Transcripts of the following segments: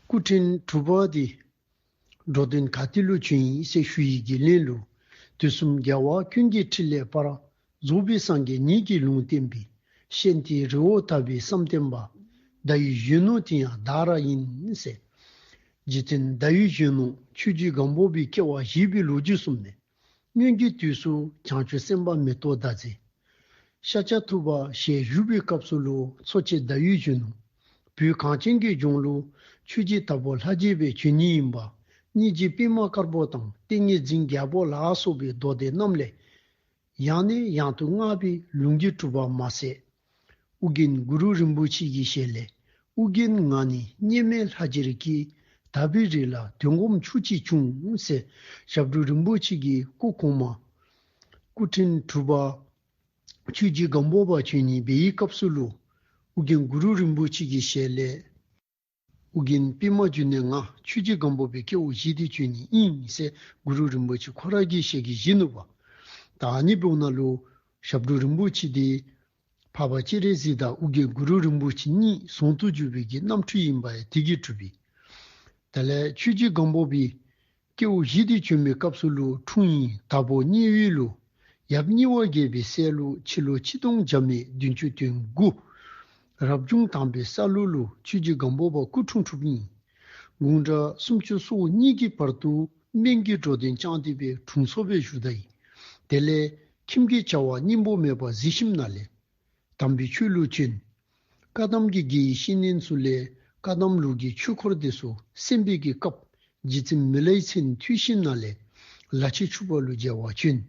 སྐུ་ཕྲེང་དྲུག་པ་དེ། འགྲོ་དོན་ག་ཏི་ལོ་ཆོས་དབྱིངས་སྲས་ཞུ་ཡི་དགེ་ལེགས་ལུགས། དུས་གསུམ་རྒྱལ་བ་ཀུན་གྱི་ཕྲིན་ལས་པར། རྫོགས་པའི་སངས་རྒྱས་ཉིད་ཀྱིས་ལུང་བསྟན་པའི། གཤེན་རྟའི་རི་བོ་དར་པའི་བསམ་གཏན་པ། བརྡ་ཡི་གཞོན་ནུ་དེ་ཡང་བདག་ར་ཡིན། རྗེ་བཙུན་བརྡ་ཡི་གཞོན་ནུ་ཆོས་རྒྱུད་སྒང་པོ་པའི་སྐྱེ་བ་བཞི་པའི་ལོ་རྒྱུས་གསུམ་ནས། སྙུན་གྱི་དུས་སུ་བྱང་ཆུབ་སེམས་དཔའ་མེ་ཏོག་ཟླ་ཚེ། ཤཱ་ཀྱ་ཐུབ་པ་ཞེས་བཞུགས་པའི་སྐབས་སུ་ལོ་འཚོ་ཆེ་ཟླ་ཡུལ་གཞོན་ནུ་བུའི་གངས་ཅན་གྱི་ལྗོངས་ལུགས་ཆོས་རྗེ་དྭགས་པོ་ལྷ་རྒྱལ་པའི་ཆོས་ཉིད་ཡིན་པ་གཉིས་ཀྱི་པད་མ་དཀར་པོ་དང་ཏིང་ངེ་འཛིན་རྒྱལ་པོ་ལ་སོགས་པའི་མདོ་སྡེ་རྣམས་ལས། ཡང་ནས་ཡང་དུ་བསྔགས་པའི་ལུང་གིས་གྲུབ་པར་མ་ཟད། ཨུ་རྒྱན་གུ་རུ་རིན་པོ་ཆེ་ཀྱི་ཞལ་ལས་ཨུ་རྒྱན་ང་ནི་སྙེམས་མའི་ལྷ་རྗེ་རིགས་ཀྱི་དར་བའི་རིགས་ལ་དོན་སྒོམ་ཆུ་གཅིག་ཕྱུང་ཟེར་ཞབས་དྲུང་རིན་པོ་ཆེ་གི་སྐུ་གོང་མ། སྐུ་ཕྲེང་དྲུག་པ། ཆོས་རྗེ་སྒམ་པོ་པ་ཆོས་ཉིད་སྦས་ཡིག་སྐབས་སུ་ཀླུ་ཨུ་རྒྱན་གུ་རུ་རིན་པོ་ཆེ་ཀྱི་ཞལ་ལས། ཨུ་རྒྱན་པདྨ་བཅུ་གནས་ལྔ་ཆོས་རྗེ་སྒམ་པོ་པའི་ཁྱེའུ་བཞི་སྟེ་བཅུ་གཉིས་གཉིས་མི་ཟད་གུ་རུ་རིན་པོ་ཆེ་ཁོ་རང་གིས་ཞལ་གྱིས་བཞེས་ནུས་པ། དག་སྙེ་པོ་ན་ལུ། ཞབས་དྲུང་རིན་པོ་ཆེ་སྟེ། འཕགས་པ་སྤྱན་རས་གཟིགས་དང་ཨུ་རྒྱན་གུ་རུ་རིན་པོ་ཆེ་གཉིས་ཟུང་དུ་འཇུག་པའི་རྒྱུ་རྣམ་འཕྲུལ་ཡིན་པ་ཡང་དེ་གིས་གྲུབ་པས། དེ་ལས་ཆོས་རྗེ་སྒམ་པོ་པའི། སྐྱེ་བོ་བཞི་སྟེ་བྱོན་པའི་སྐབས་སུ་ལུགས་འཁྲུངས་ཡིན་དྭགས་པོ་སྙེ་བོའི་ལོ། ཡབ་སྙི་བ་རྒྱལ་པའི་སྲས་ལུགས་འཆི་ལོ་ཆིག་སྟོང་བརྒྱ་མེད་བདུན་ཅུ་དོན་དགུ། རབ་བྱུང་དམ་པའི་སར་ལུགས་ལོ་ཆོས་རྗེ་སྒམ་པོ་པ་སྐུ་འཁྲུངས་དྲུག་ཡིན། དགུང་གྲངས་སུམ་ཅུ་སོ་གཉིས་ཀྱི་བར་དུ་སྨན་གྱི་འགྲོ་དོན་བསྐྱངས་ཏེ་པའི་དྲུང་འཚོ་བའི་ཞུ་བདག་ཡིན། དེ་ལས་ཁྱིམ་གྱི་བྱ་བ་སྙིང་པོ་མེད་པར་གཟི་ཞིམ་ན་ལེན། དམ་པའི་ཆོས་ལུགས་ཅན། བཀའ་གདམས་ཀྱི་རྒྱལ་ཡིག་ཤིན་ནན་སུ་ལའི་བཀའ་གདམས་ལུགས་ཀྱི་ཆོས་འཁོར་དེ་སུ་སེམས་དཔས་ཀྱི་སྐབས་རྗེ་བཙུན་མི་ལའི་མཚན་མཐུས་ཤིན་ན་ལའི་ལ་ཆེ་ཕྱུག་པ་ལུ་རྒྱལ་བ་བྱོན།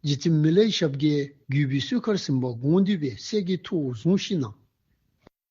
རྗེ་བཙུན་མི་ལའི་ཞབས་བརྒྱད་བརྒྱུད་པའི་གསོལ་ཁར་སིམ་པ་དགོངས་འདུས་པའི་སྲས་ཀྱི་ཐུ་བོ་ཟུང་ཤིན་ན་ལ།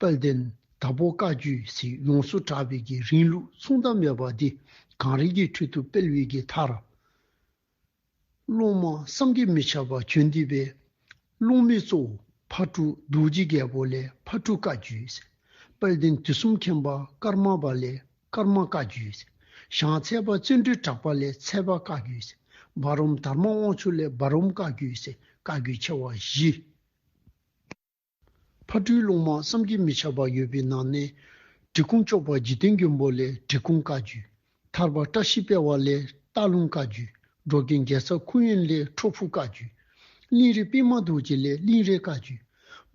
དཔལ་ལྡན་དྭགས་པོ་བཀའ་བརྒྱུད་སྲིད་ཡོངས་སུ་གྲགས་པའི་དགེ་རིང་ལུགས་མཚུངས་ཟླ་མེད་པ་འདི་གངས་རི་གི་ཁྲོད་དུ་དཔལ་བེ་དགེ་ཐར། སློང་མ་བསམ་གྱིས་མི་ཁྱབ་པ་ཁྱོད་འདི་བས། སློང་མའི་གཙོ་བོ་ཕ་གྲུ་རྡོ་རྗེ་རྒྱལ་པོ་ལས་ཕ་གྲུ་བཀའ་བརྒྱུད་སྲིད། དཔལ་ལྡན་དུས་གསུམ་མཁྱེན་པ་ཀརྨ་པ་ལས་ཀརྨ་བཀའ་བརྒྱུད་སྲིད། ཞང་ཚལ་པ་བརྩོན་འགྲུས་གྲགས་པ་ལས་ཚལ་པ་བཀའ་བརྒྱུད་སྲིད། འབའ་རོམ་དར་མ་དབང་ཕྱུག་ལས་འབའ་རོམ་བཀའ་བརྒྱུད་སྲིད་བཀའ་བརྒྱུད་ཆེ་བ་བཞི། ཕ་སྤྲུལ་ལུང་མང་བསམ་གྱིས་མི་ཁྱབ་པ་ཡོད་པའི་ནང་ནས། འབྲི་གུང་ལྕོག་པ་འཇིག་རྟེན་མགོན་པོ་ལས་འབྲི་གུང་བཀའ་བརྒྱུད། ཐར་པ་བཀྲ་ཤིས་དཔལ་བ་ལས་སྟག་ལུང་བཀའ་བརྒྱུད། འགྲོ་རྒན་རྒྱལ་ཚབ་ཁུ་ཡོན་ལས་ཁྲོ་ཕུ་བཀའ་བརྒྱུད། གླིང་རི་པད་མ་རྡོ་རྗེ་ལས་གླིང་རའི་བཀའ་བརྒྱུད།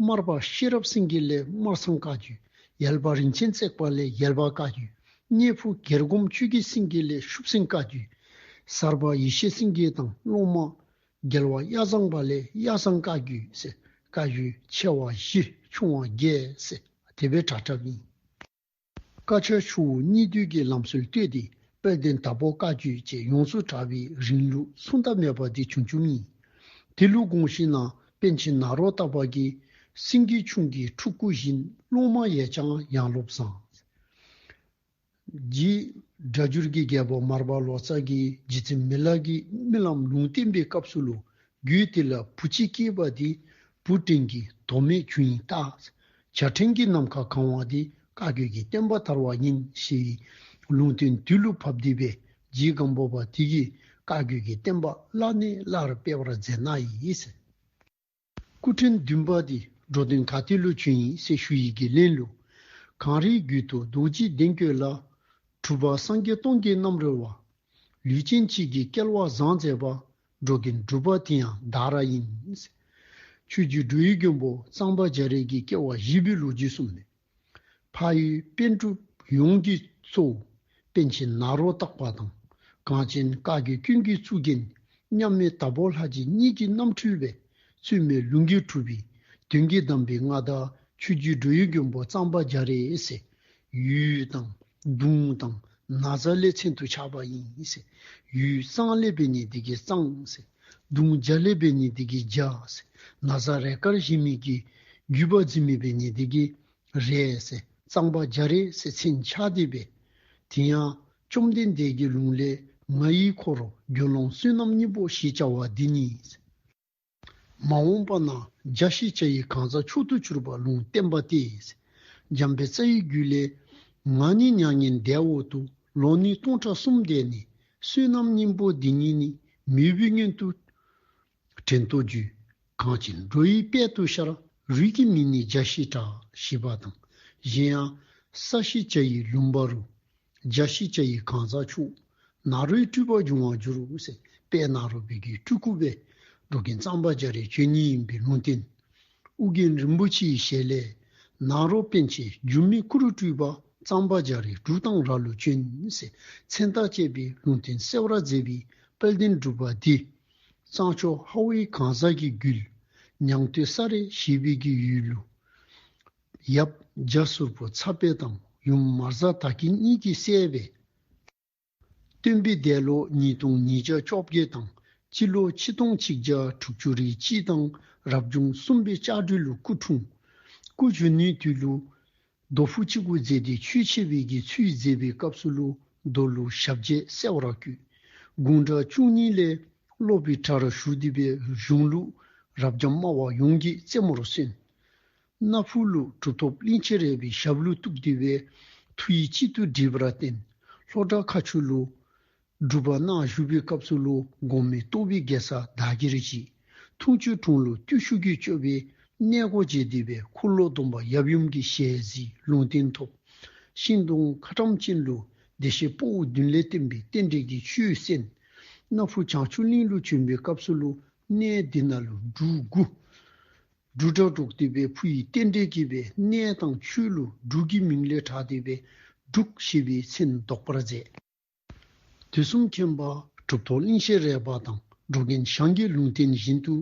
སྨར་པ་ཤེས་རབ་སེང་གེ་ལས་སྨར་ཚང་བཀའ་བརྒྱུད། ཡལ་པ་རིན་ཆེན་བརྩེགས་པ་ལས་ཡལ་པ་བཀའ་བརྒྱུད། གཉན་ཕུ་གྱེར་སྒོམ་ཆོས་རྒྱལ་སེང་གེ་ལས་ཤུབ་སེང་བཀའ་བརྒྱུད། གསར་པ་ཡེ་ཤེས་སེང་གེ་དང་ཀློང་མ། རྒྱལ་བ་གཡའ་བཟང་པ་ལས་གཡའ་བཟང་བཀའ་བརྒྱུད། བཀའ་བརྒྱུད་ཆེ་བ་བཞི་ཆུང་བ་བརྒྱད། དེ་པའི་དྲ་གྲབ་ཡིན། བཀའ་ཆོས་ཆུང་ངུ་གཉིས་བསྡུས་ཀྱི་ལམ་སྲོལ་བཏོད་དེ་དཔལ་ལྡན་དྭགས་པོ་བཀའ་བརྒྱུད་ཅེས་ཡོངས་སུ་གྲགས་པའི་རིང་ལུགས་མཚུངས་ཟླ་མེད་པ་འདི་བྱུང་བཅུ་གཉིས། དེ་ལུགས་དགོངས་ཤིང་ནང་དཔལ་ཆེན་ནཱ་རོ་ཏཱ་པ་ཀིའི། སེང་གེ་ཆུང་གི་ཕྲུག་གུ་བཞིན་སློང་མ་ཡས་བྱང་ཡང་སློབ་བཟང། རྗེས་སྒྲ་སྦྱོར་གྱི་རྒྱལ་པོ་མར་པ་ལོ་ཙཱ་གྱིས་རྗེ་བཙུན་མི་ལག་གི་རྨི་ལམ་ལུང་བསྟན་པའི་སྐབས་སུ་ལོ་རྒྱུས་དེ་ལ་བུ་གཅིག་སྐྱེས་པ་དེ་བུ་ཀྲེང་གི་དོ་མེད་ཁྱུ་ཡིན་སྟབས། བྱ་ཕྲེང་གི་ནམ་མཁའ་གང་བ་དེ་བཀའ་བརྒྱུད་ཀྱི་བསྟན་པ་དར་བ་ཡིན་ཞེས་པའི་ལུང་བསྟན་དུས་ཀླུ་ཕབ་སྡེ་པས་རྗེ་སྒམ་པོ་པ་དེ་གིས་བཀའ་བརྒྱུད་ཀྱི་བསྟན་པ་སླར་ནས་སླར་སྤེལ་བར་མཛད་ནའི། སྐུ་ཕྲེང་བདུན་པ་དེས་འགྲོ་དོན་ག་དུས་ལོ་ཆུང་ཡིན་སའི་ཞུ་ཡིག་གི་གླེང་ལུགས། གངས་རིའི་རྒྱུད་དུ་རྡོ་རྗེ་གདན་བསྐྱོད་ལ། གྲུབ་པ་སངས་རྒྱས་སྟོང་གི་རྣམ་རོལ་བ། ལུས་ཅན་མཆིས་ཀྱི་སྐལ་བ་བཟང་མཛད་པ། འགྲོ་གི་འགྲུབ་པ་དེ་ཡང་བདག་ར་ཡིན། ཆོས་རྒྱུད་འབྲུག་ཡུལ་མགོན་པོ་གཙང་པ་རྒྱ་རིགས་ཀྱི་སྐྱེ་བ་བཞི་པའི་ལོ་རྒྱུས་གསུངས་མེད། ཕ་ཡུལ་དཔེ་སྒྲུབ་ཡོངས་ཀྱི་གཙོ་བོ་པན་ཆེན་ནཱ་རོ་སྟག་པ་དང་གངས་ཅན་བཀའ་བརྒྱུད་སྤྱི་འཐུས་གཙུག་རྒྱན་མཉམ་མེད་དྭགས་པོ་ལྷ་རྗེ་གཉིས་ཀྱི་རྣམ་འཕྲུལ་བས་བཙུན་མའི་ལུས་འགྱུར་གྲུབ་པའི་དོན་གྱིས་གདམས་པའི་མངའ་བདག་ཆོས་བརྒྱུད་འབྲུག་ཡུལ་མགོན་པོ་གཙང་པ་རྒྱ་རི་སེ་ཡུལ་དང་དུང་དང་ན་བཟའ་ལའི་མཚན་དུ་ཆགས་པ་ཡིན། ཡུལ་གཙང་ལས་པའི་ནི་སྡེ་དགེ་གཙང། གདུང་བརྒྱ་ལེགས་པའི་ཉི་ཟླའི་གིས་བརྒྱ། ན་བཟའ་རས་དཀར་གཞི་མེད་ཀྱི། བརྒྱུད་པ་རྫི་མེད་པའི་ཉི་ཟླའི་གིས། རས་གཙང་པ་བརྒྱ་རེ་སེ་ཚིག་འཆགས་བསྡད་པས། དེ་ཡང་བཅོམ་ལྡན་འདས་ཀྱི་ལུང་ལས་ང་ཡི་འཁོར་རྒྱུད་ལོངས་བསུན་ནམ་གཉིས་པོ་ཞེས་བྱ་བ་འདི་ཉིད། མ་འོངས་པ་ན་བརྒྱ་ཞེས་བྱ་ཡི་གང་ཟག་མཆོག་ཏུ་གྱུར་པ་ལུང་བསྟན་པ་སྟེ། འཇམ་པའི་རྩ་ཡི་རྒྱུད་ལས། ང་ནི་མྱ་ངན་འདས་འོག་ཏུ་ལོ་ནི་སྟོང་ཕྲག་གསུམ་འདས་ནས་བསོད་ནམས་སྙིང་པོ་འདི་ཉིད་ནི། མི་བུ་སྙན་དུ་དྲན་ཏོ་རྒྱུད། གང་བྱིན་འགྲོ་ཡི་དཔལ་དུ་ཤར། རུས་ཀྱི་མིང་ནི་འཇའ་ཤེལ་བྲག། ཞེས་པ་དང། གཞན་ཡང། ས་གཞི་བྱ་ཡི་ལུང་པ་རུ། འཇའ་ཤེལ་བྱ་ཡི་གང་ཟག་ཕྱུག། ནཱ་རོའི་སྤྲུལ་པ་འབྱུང་བར་འགྱུར། ཞེས་པས་ནཱ་རོ་བོད་ཀྱི་སྤྲུལ་སྐུ་བས། འགྲོ་གིན་གཙང་པ་བྱ་རའི་ཆོས་ཉིད་ཡིན་པའི་ལུང་བསྟན། ཨུ་རྒྱན་རིན་པོ་ཆེའི་ཞལ་ལས། ནཱ་རོ་པཎ་ཆེན་འགྱུར་མེད་སྐུ་རུ་སྤྲུལ་པ་གཙང་པ་འཇའ་རིས་འབྲུག་དང་ར་ལུ་ཅུན་ཟེར་མཚན་རྟགས་བཅས་པའི་ལུང་བསྟན་གསལ་བར་མཛད་པའི་དཔལ་ལྡན་སྒྲུབ་པ་འདི། གཙང་ཕྱོགས་ཧྭ་ཝེ་གང་ཟག་གི་རྒྱུད། ཉང་སྟོད་ས་རའི་གཞིས་སྤེལ་གྱི་ཡུལ་ལུང། ཡབ་རྗ་སུར་པོ་ཚ་དཔལ་དང་ཡུམ་མར་གཟའ་ད་གིན་གཉིས་ཀྱིས་བསད་པའི། སྟོན་པའི་འདས་ལོ་ཉིས་སྟོང་ཉིས་བརྒྱ་བཅོ་བརྒྱད་དང་སྤྱི་ལོ་ཆིག་སྟོང་ཆིག་བརྒྱ་དྲུག་ཅུ་རེའི་སྤྱི་དང་རབ་བྱུང་གསུམ་པའི་ལྕགས་སྦྲུལ་ལོ་སྐུ་འཁྲུངས། སྐུ་གཞོན་ནུའི་དུས་ལུགས། རྡོ་ཕུག་གཅིག་པུ་མཛད་དེ་ཆོས་འཆད་བས་ཀྱི་ཚུལ་མཛད་པའི་སྐབས་སུ་ཀླུ་རྡོ་ལུགས་ཞབས་རྗེས་གསལ་བ་ར་བརྒྱུད་དགུང་གྲངས་བཅུ་གཉིས་ལས་སློབ་པའི་གྲྭ་རུ་ཞུགས་འདུས་པའི་གཞུང་ལུགས་རབ་འབྱམས་སྨྲ་བ་ཡོངས་ཀྱི་རྩེ་མོར་སོན། སྣ་ཕུག་ལུགས་གྲུབ་ཐོབ་གླིང་ཆེན་རལ་པའི་ཞབས་ལུགས་གཏུགས་བསྡུས་པའི་ཐུགས་ཡིད་གཅིག་ཏུ་སྒྲིལ་བར་བརྟེན་ལྷོ་བྲག་ཁ་ཆུ་ལུགས། སྒྲུབ་པ་སྣག་བཞུགས་པའི་སྐབས་སུ་ལུགས་སྒོམ་མེ་ཏོག་བི་གེ་ས་བདག་གི་རིགས་ཀྱི་ཐུགས་མཆོད་དྲུང་ལུགས་བརྟུལ་ཞུགས་རྒྱུད་སྤྱོད་པའི་གནས་སྒོ་འབྱེད་བསྡུས་པའི་འཁོར་ལོ་སྡོམ་པ་ཡབ་ཡུམ་གྱི་ཞལ་གཟིགས་ལུང་བསྟན་ཐོབ། ཤིང་སྡོང་མཁའ་འགྲམ་ཅན་ལུགས་བདེ་གཤེགས་སྤོ་བོ་བདུན་ལས་བསྟན་པའི་རྟེན་འབྲེལ་གྱི་ཆུའི་གསེང། སྣ་ཕུག་བྱང་ཆུབ་གླིང་ལུགས་བྱོན་པའི་སྐབས་སུ་ལུགས་གནས་འདི་ན་ལུགས་འབྲུ་དགུ། འབྲུ་སྦྲག་སྒྲོག་བསྡུས་པའི་ཕུ་ཡི་རྟེན་འབྲེལ་བསྐྱེད་པའི་གནས་དང་ཆོས་ལུགས་འབྲུག་གི་མིང་ལས་གྲགས་བསྡུས་པས་འབྲུག་ཞེས་པའི་མཚན་འདོགས་པར་མཛད། དུས་གསུམ་མཁྱེན་པ་གྲུབ་ཐོབ་གླིང་ཤེས་རལ་པ་དང་འགྲོ་མཁན་ཞང་རྒྱལ་ལུང་བསྟན་བཞིན་དུ་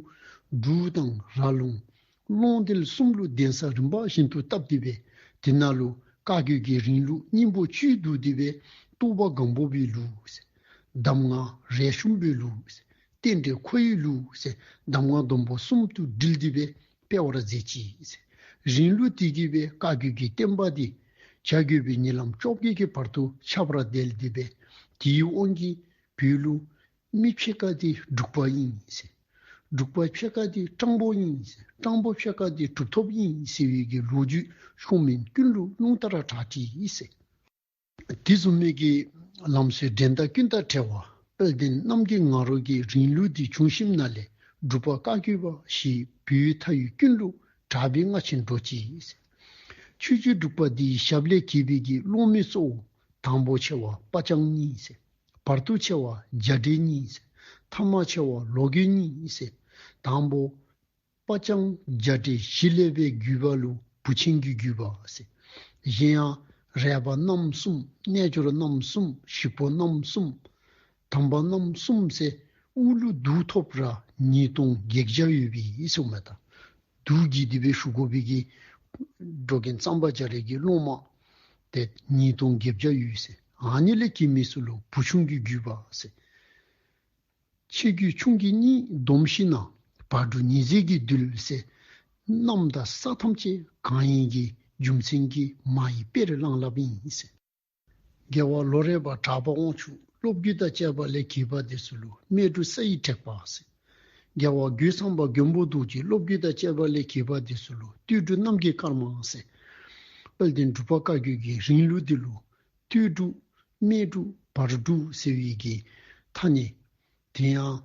འབྲུག་དང་ར་ལུང། ཀློང་རྡལ་གསུམ་ཀླུ་གདན་ས་རིམ་པ་བཞིན་དུ་བཏབ་བསྡུས་པས་དེ་ན་ལུ་ཀ་རྒྱུད་ཀྱི་རིང་ལུགས་སྙིང་པོ་བཅུའི་བསྡུ་བསྡུས་པས་ཏུ་བ་སྒང་སྤོ་བོའི་ལུགས། གདམས་ངག་རལ་ཤུམ་པོའི་ལུགས། རྟེན་འབྲེལ་ཁོར་ཡུག་ལུས། གདམས་ངག་སྡོམ་པོ་གསུམ་དུ་དྲིལ་བསྡུས་པས་སྤེལ་བར་མཛད་ཅིང། རིང་ལུགས་བསྟི་གྱུར་པའི་བཀའ་བརྒྱུད་ཀྱི་བསྟན་པ་འདི། བྱ་རྒོད་པའི་ཉེ་ལམ་བཅོ་བརྒྱད་ཀྱི་བར་དུ་ཆར་པར་བརྡལ་བསྡུས་པས་དེའི་དབང་གིས་བོད་ལུགས། མི་ཕྱེད་ཀ་དེ་འབྲུག་པ་དབྱིངས། འབྲུག་པ་ཕྱེད་ཀ་དེ་སྤྲང་པོ་དབྱིངས། སྤྲང་པོ་ཕྱེད་ཀ་དེ་གྲུབ་ཐོབ་དབྱིངས་ཟེར་བའི་ཀྱི་ལོ་རྒྱུས་ཆུང་མིན་ཀུན་ལུགས་ལུང་ལྟར་གྲགས་བྲིས། དུས་གསུམ་མིག་གི་ལམ་སྲོལ་འགྲན་ཟླ་ཀུན་ལྟར་བྲལ་བ། དཔལ་ལྡན་རྣམ་རྒྱལ་ངག་རོག་གི་རིང་ལུགས་འདི་བྱུང་ཞིམ་མནའ་ལས་སྒྲུབ་པ་བཀའ་བརྒྱུད་པ་ཞིག་བོད་ཡུལ་མཐའ་ཡུལ་ཀུན་ལུགས་གྲགས་པའི་སྔ་ཕྱི་འགྲོ་བྱེད། ཆོས་བརྒྱུད་སྒྲུབ་པ་འདིའི་ཞབས་ལས་གྱེས་པའི་དགེ་སློང་མའི་གཙོ་བོ་དང་པོ་ཆེ་བ་དཔའ་སྤྱང་གཉིས། བར་དུ་ཆེ་བ་འཇའ་སྤྲེལ་གཉིས། ཐ་མ་ཆེ་བ་ལོ་གོས་གཉིས། དང་པོ། པ་ལྕང་སྦྱར་བྲེ་བཞི་ཀླད་པའི་རྒྱུས་པ་ལུ་བུ་ཆེན་རྒྱུས་རྒྱུས་པ། གཞན་ཡང་རལ་པ་རྣམ་གསུམ་རྣལ་འབྱོར་རྣམ་གསུམ་ཞིག་པོ་རྣམ་གསུམ། དམ་པ་རྣམ་གསུམ་བསྲེ་དབུགས་ཀླུ་བདུད་ཐོབ་ར་ཉིས་སྟོང་བགེགས་བྱ་ཡོད་པའི་སྲུང་མ་དང། བདུད་ཀྱི་སྡིག་པའི་ཤུགས་གོ་བི་གིས། འགྲོ་གིན་ཙམ་པ་བྱ་རལ་གྱི་སློང་མ། དེ་ཉིས་སྟོང་བགེགས་བྱ་ཡོད། ཨ་ནི་ལས་ཀྱི་མི་སུ་ལུ་བུ་ཆུང་རྒྱུས་རྒྱུས་པ། ཆེ་རྒྱུད་ཆུང་གི་གཉིས་སྡོམ་བཞི་ན་བར་དྲུག་ཉིས་བརྩེགས་ཀྱི་རྡུལ་བསལ། རྣམས་དང་ས་ཐམས་ཅད་གང་ཡིན་གྱི་རྒྱུ་མཚན་གྱིས་མ་ཡི་དཔེར་བླངས་བསླབ་ཡིན། རྒྱལ་བ་ལོ་རས་པ་གྲགས་པ་དབང་ཕྱུག་སློབ་རྒྱུད་དང་བཅས་པ་ལས་གྱེས་པ་དེ་སུ་ལུ་སྨད་སྤྲུལ་ས་ཡིག་དྲེགས་པ་སེ། རྒྱལ་བ་རྒྱུད་ཚང་པ་མགོན་པོ་གདུགས་ཀྱི་སློབ་རྒྱུད་དང་བཅས་པ་ལས་གྱེས་པ་དེ་སུ་ལུ་བཏུས་སྒྲུབ་རྣམ་རྒྱལ་དཀར་དམངས་སེ། དཔལ་ལྡན་སྒྲུབ་པ་བཀའ་བརྒྱུད་ཀྱི་རིང་ལུགས་འདི་ལུ་ལྟོས་དཀྲུགས། སྨད་དཀྲུགས། བར་དཀྲུགས་ཟེར་བའི་གི་མཐའ་ནི། དེ་ཡང།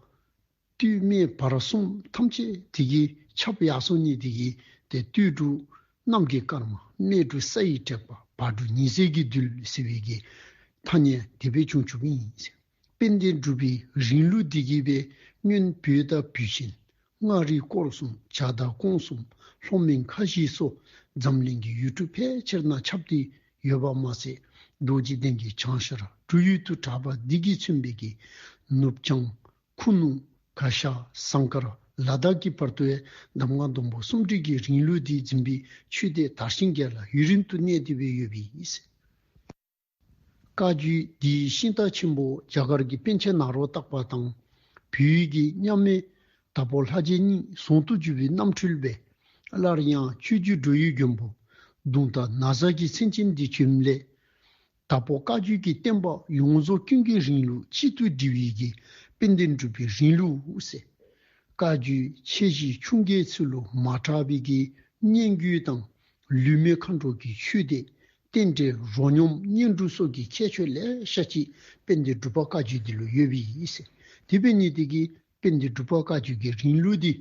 ལྟོས་སྨད་བར་གསུམ་ཐམས་ཅད་དེ་གི་ཆབ་ཡག་སོ་གཉིས་དེ་གི་ཏེ་ལྟོས་དཀྲུགས། གནམ་གི་སྐར་མ་སྨད་དཀྲུགས་ས་ཡིས་སྤྲས་པ་བར་དཀྲུགས་ཉི་ཟེར་གྱི་རྡུལ་ཟེར་བའི་གི་མཐའ་ནི་དེ་བས་ཅུང་བྱུག་ཡིན། དཔལ་ལྡན་སྒྲུབ་པའི་རིང་ལུགས་བདེ་སྐྱིད་པའི་སྨྱོན་བུའི་ལྟ་བུ་བཞིན་མངའ་རིས་སྐོར་གསུམ་བྱ་བདག་ཀོང་གསུམ་ལྷོ་སྨད་མཁའ་བཞི་སོགས་འཛམ་གླིང་གི་ཡུལ་གྲུ་ཕལ་ཆེར་ན་ཁྱབ་སྟེ་ཡོད་པ་མ་ཟད་རྡོ་རྗེ་གདན་གྱི་བྱང་ཤར་གྲུ་ཡུལ་དུ་གྲགས་པ་བདེ་སྐྱིད་མཚོན་དཔེ་གྱི་ནུབ་བྱང་ཁུ་ནུ་ག་ཤ་ཟངས་དཀར་ལ་དྭགས་ཀྱི་བར་དུ་བའི་འདམ་ངག་ལྡོམ་པོ་སུམ་ཁྲིད་ཀྱི་རིང་ལུགས་འདི་འཛིན་པའི་ཆོས་སྡེ་དར་ཞིང་རྒྱས་ལ་ཡུན་རིང་དུ་གནས་བདེ་བོས་ཡོད་པས། བཀའ་བརྒྱུད་འདིའི་ཤིང་རྟ་ཆེན་པོ་རྒྱ་གར་གྱི་པཎ་ཆེན་ནཱ་རོ་བཏགས་པ་དང། བོད་ཡུལ་གྱི་མཉམ་མེད་དྭགས་པོ་ལྷ་རྗེ་གཉིས་ཟུང་དུ་བཅུ་པའི་རྣམ་འཕྲུལ་པས། སླར་ཡང་ཆོས་བརྒྱུད་འགྲོ་ཡུལ་འགྱོན་པོ་གདུང་དང་ན་བཟའ་གྱི་མཚན་ཅན་འདི་བྱོན་སླད། དྭགས་པོ་བཀའ་བརྒྱུད་ཀྱི་བསྟན་པ་ཡོངས་རྫོགས་ཀུན་གྱི་རིང་ལུགས་གཅིག་ཏུ་སྒྲིལ་བའི་དགེ་སྤེལ་འདི་འགྲུབ་པའི་རིང་ལུགས། བཀའ་བརྒྱུད་ཆེ་བཞིའི་ཆུང་བརྒྱའི་ཚུལ་ལོ་མ་གྲགས་པའི་དགེ་བསྙེན་རྒྱུད་དང་ལུས་མེད་མཁའ་འགྲོ་གྱི་ཆོས་སྡེ་རྟེན་འབྲེལ་རོ་སྙོམས་བསྙེན་སྒྲུབ་སོགས་ཀྱི་ཁྱད་ཆོས་ལས་ཤ་གཅིག་དཔེ་འདི་སྒྲུབ་པ་བཀའ་བརྒྱུད་འདི་ལོ་ཡོད་པས་ཡིན། དེ་བས་ནི་དེ་གའི་དཔེ་འདི་སྒྲུབ་པ་བཀའ་བརྒྱུད་ཀྱི་རིང་ལུགས་འདི་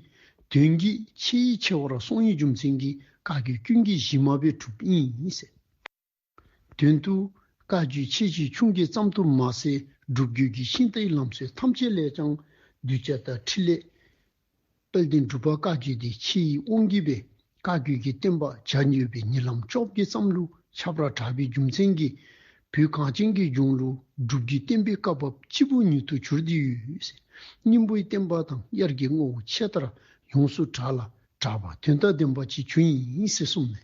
དོན་གྱི་ཆེས་ཡིད་ཆེས་བར་སོང་ཡིག་རྒྱུ་མཚན་གྱིས་བཀའ་བརྒྱུད་སྐྱོན་གྱི་གཞི་མ་བས་གྲུབ་པ་ཡིན། དོན་དུ་བཀའ་བརྒྱུད་ཆེས་ཆེ་ཆུང་གི་ཙམ་དུ་མ་ཟད་སྒྲུབ་བརྒྱུད་ཀྱི་ཤིང་རྟའི་ལམ་སྲོལ་ཐམས་ཅད་ལས་ཀྱང་གདུལ་བྱ་དང་ཕྲིན་ལས། དཔལ་ལྡན་སྒྲུབ་པ་བཀའ་བརྒྱུད་དེ་ཕྱི་ཡི་དབང་བརྒྱུད་པས་བཀའ་བརྒྱུད་ཀྱི་བསྟན་པ་བྱ་ཉུལ་བའི་ཉེ་ལམ་ཕྱོགས་ཀྱི་བསམ་ལུགས་ཆབ་ར་གྲགས་པའི་རྒྱུ་མཚན་གྱིས་བོད་གངས་ཅན་གྱི་གཞུང་ལུགས་སྒྲུབ་བརྒྱུད་བསྟན་པའི་བཀའ་བབས་སྤྱི་བོ་ཉིད་དུ་གྱུར་དུས་སྙིང་པོའི་བསྟན་པ་དང་དབྱར་གྱི་དངོས་བོ་ཆད་ལྟར་ཡོངས་སུ་གྲགས་ལ་གྲགས་པ་དོན་དང་ལྡན་པ་ཅིག་བྱུང་ཡིན་སྲིད་གསུངས་ནས།